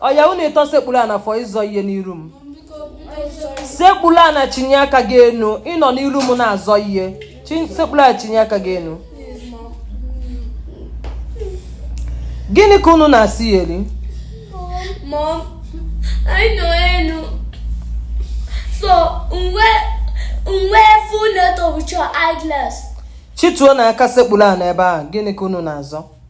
ọya unu ịtọ sekpulu ana for ịzọ ihe n'iru m sekpulu ana chinie aka gị enu ị nọ n'iru m na-azọ ihe sekpulu ana chinie aka gị enu gịnị ka unu na-asị ya eri so m wee m wee fụ Neto with your eyeglass chituonụ aka sekpulu ana ebe ahụ gịnị ka unu na-azọ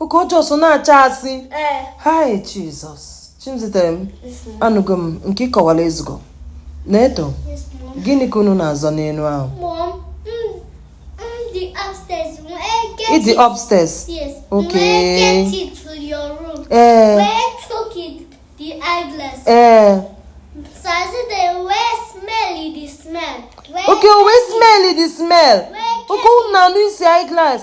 okay ọ just na-acha asị ee hai Jesus Chimzitem anụgo m nke ị kọwara ezugo Neto yes mom gịnị ka unu na-azọ n'enu ahụ mom m m dị upstairs m ege ị dị upstairs yes Okay. m get into your room ee wee took it the eyeglass ee so i said wee smell it the smell wee okay o wee smell the smell okay unu na-anụ isi eyeglass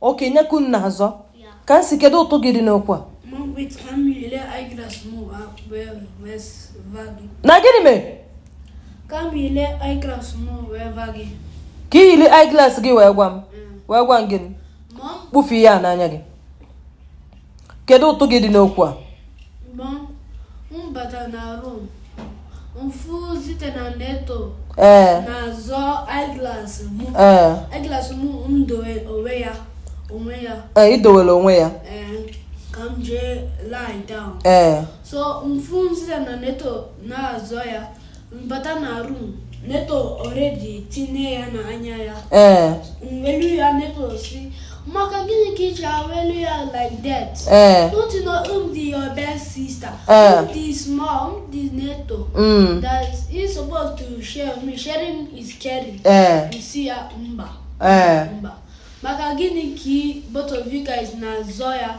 okay nya ka unu na-azọ Kamsi kedu ụtụ gị dị n'okwu a na gịnị mere ka m yili eyeglass m wee gwa gị ka i yili eyeglass gị wee gwa m wee gwa m gịnị kpufue ihe a n'anya gị kedu ụtụ gị dị n'okwu a ee ee i dowere onwe ya ee so m fụ Zite na Neto na-azọ ya m bata na room Neto already tinye ya na anya ya ee m welu ya Neto si maka gịnị ka ị ji welu ya like that ee Don't you know I'm the your best sister? Eh. I'm the small, I'm the Neto. mm, That he's supposed to share me. Sharing is caring. ee Ị sị ya mba. ee Mba. Maka gịnị ka ị- both of you guys na-azọ ya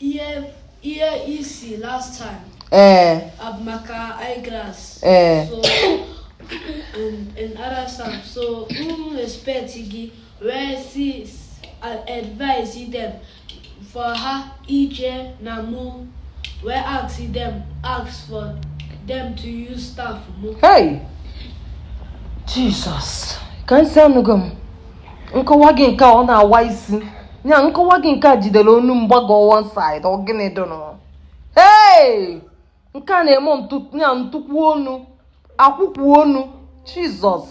Ihe ihe ị sị last time. Ee. Eh. Abụ maka eyeglass. Ee. Eh. So in, in other stuff so m respect gị wee si advise them for ha ije na mụ wee ask them ask for them to use stuff mụ. Hey! Jesus! Kamsi anụgo m. nkọwa gị nke ọ na-awa isi ya nkọwa gị nke a jidere onu mgbago one side ọ gịnị dụnụ hey nke a na-eme ya ntụkwu onu akwụkwụ onu Jesus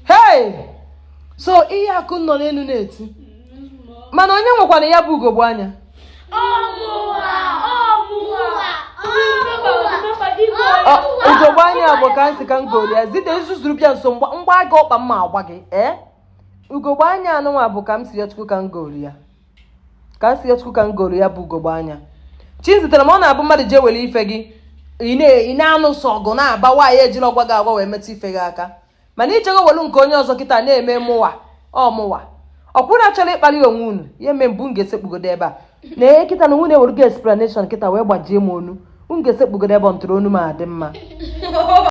hey so ihe a ka unu nọ n'enu na-eti mana onye nwekwara ya bụ ugogbe anya ugogbe anya bụ ka nsị ka m goli ya zite nzuzuru bịa nso m gbaa gị ọkpa m ma agba gị ee eh? ugogbe anya anụnwa bụ ka m si ya chukwu ka m goli ya ka m si ya chukwu ka m goli ya bụ ugogbe anya chi zitere m ọ na-abụ mmadụ jee were ife gị ị na-anụ sọ ọgụ na-aba nwaanyị ejirọ gwa gị agwa wee metụ ife gị aka mana i jego welu nke onye ọzọ kịta na-eme mụwa ọ mụwa ọkwụrụ achọrọ ịkpali onwe unu ya eme mbụ m ga-esekpugodo ebe a na ihe kịta na nwunye were gị explanation kịta wee gbajie m onu m ga-esekpugodo ebe ọ ntụrụ onu m adị mma